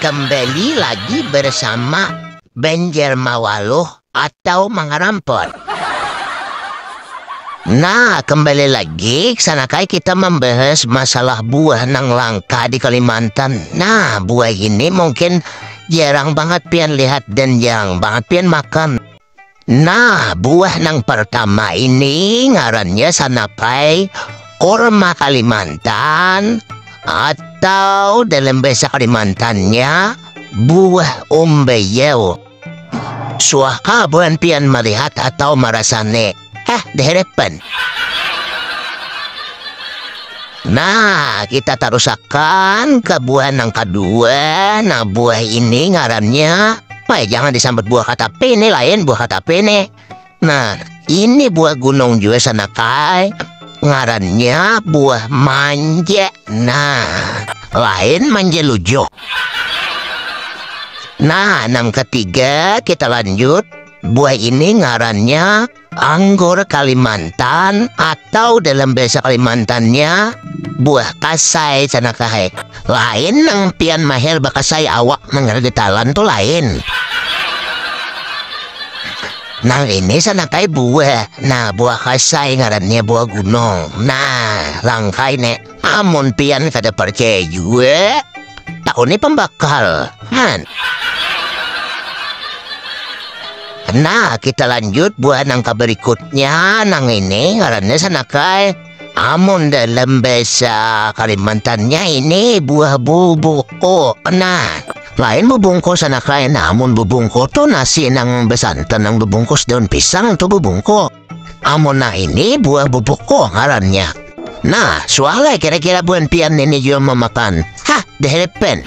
kembali lagi bersama Banjar Mawaluh atau Mangarampor. Nah, kembali lagi sanakai kita membahas masalah buah nang langka di Kalimantan. Nah, buah ini mungkin jarang banget pian lihat dan jarang banget pian makan. Nah, buah nang partama ini ngarannya sanapai kurma Kalimantan atau dalam bahasa Kalimantannya buah umbeyel. Suahkah buhan pian malihat atau marasani? Hah, diharapan. Nah, kita tarusakan ke buah nang kedua. Nah, buah ini ngarannya. Wah, jangan disambut buah kata P ini lain buah kata P ini. Nah, ini buah gunung juga sana kai. Ngarannya buah manja. Nah, lain manja lujo. Nah, nang ketiga kita lanjut Buah ini ngarannya anggur Kalimantan atau dalam bahasa Kalimantannya buah kasai sana kahe. Lain nang pian maher bakasai awak nang getalan tu lain. Nang ini sana kahe buah. Nah, buah kasai ngarannya buah gunung. Nah, langkai ne. Amun pian kada parcaya jua, takuni pambakal, han. Nah, kita lanjut buah nang kabarikutnya, nang ini ngarannya sanakai. Amun dalam bahasa Kalimantannya ini buah bubuko. Nah, lain bubungko sanakai. Nah, amun bubungko tu nasi nang besantan nang bebungkus daun pisang tu bubungko. Amun nang ini buah bubuko ngarannya. Nah, sualai kira-kira buhan pian ini jua mamakan. Hah, dehelepen.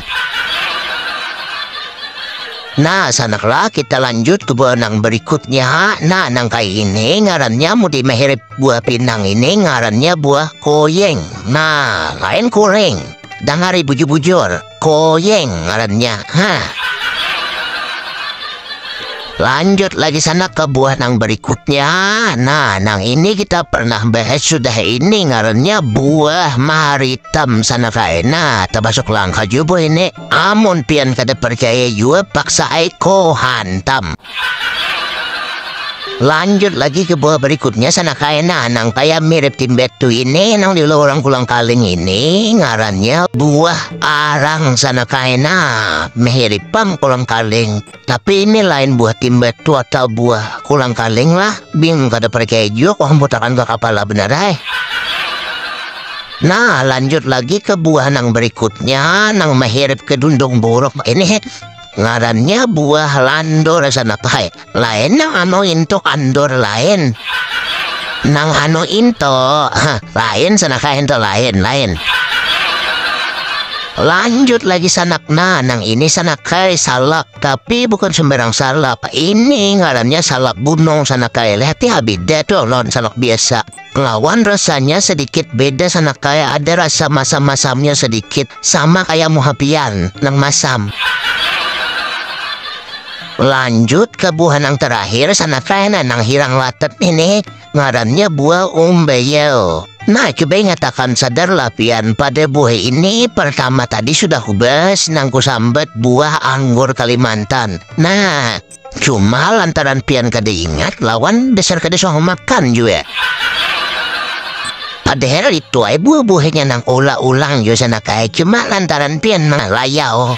Nah, sanaklah kita lanjut ke buah nang berikutnya. Nah, nang kayak ini ngarannya mudi meherip buah pinang ini ngarannya buah koyeng. Nah, lain koreng. Dangari bujur-bujur. koyeng ngarannya ha lanjut lagi sana ke buah nang berikutnya nah nang ini kita pernah bahas sudah ini ngarannya buah maritam sana kae nah termasuk langka juga ini amun pian kada percaya juga paksa aiko hantam Lanjut lagi ke buah berikutnya sana kaena nang kaya mirip timbet tu ini nang di lorong kulang kaling ini ngarannya buah arang sana kaena mirip pam kulang kaling tapi ini lain buah timbet tu atau buah kulang kaling lah bingung kada perkejuk orang putakan ke kepala benar ay. Nah, lanjut lagi ke buah nang berikutnya, nang mehirip ke dundung buruk. Ini Ngarannya buah landor sana pai. Lain nang anu intok andor lain. Nang anu intok hah, lain sana kah intok lain lain. Lanjut lagi sanak. Nah, nang ini sanak kai salak, tapi bukan sembarang salak. Ini ngarannya salak gunung sanak kai. Lihat ya beda tuh lawan salak biasa. Lawan rasanya sedikit beda sana kaya ada rasa masam-masamnya sedikit, sama kaya muha pian nang masam. Lanjut ka buah nang terakhir sana kaya nah nang hirang latet ini, ngarannya buah umbeyel. Nah cuba ingatakan sadarlah pian pada buah ini pertama tadi sudah kubahas nang kusambet buah anggur Kalimantan. Nah. Cuma lantaran pian kada ingat lawan dasar kada suah makan jua. Padahal itu ay buah-buahnya nang olah ulang jua sana kaya cuma lantaran pian malayau.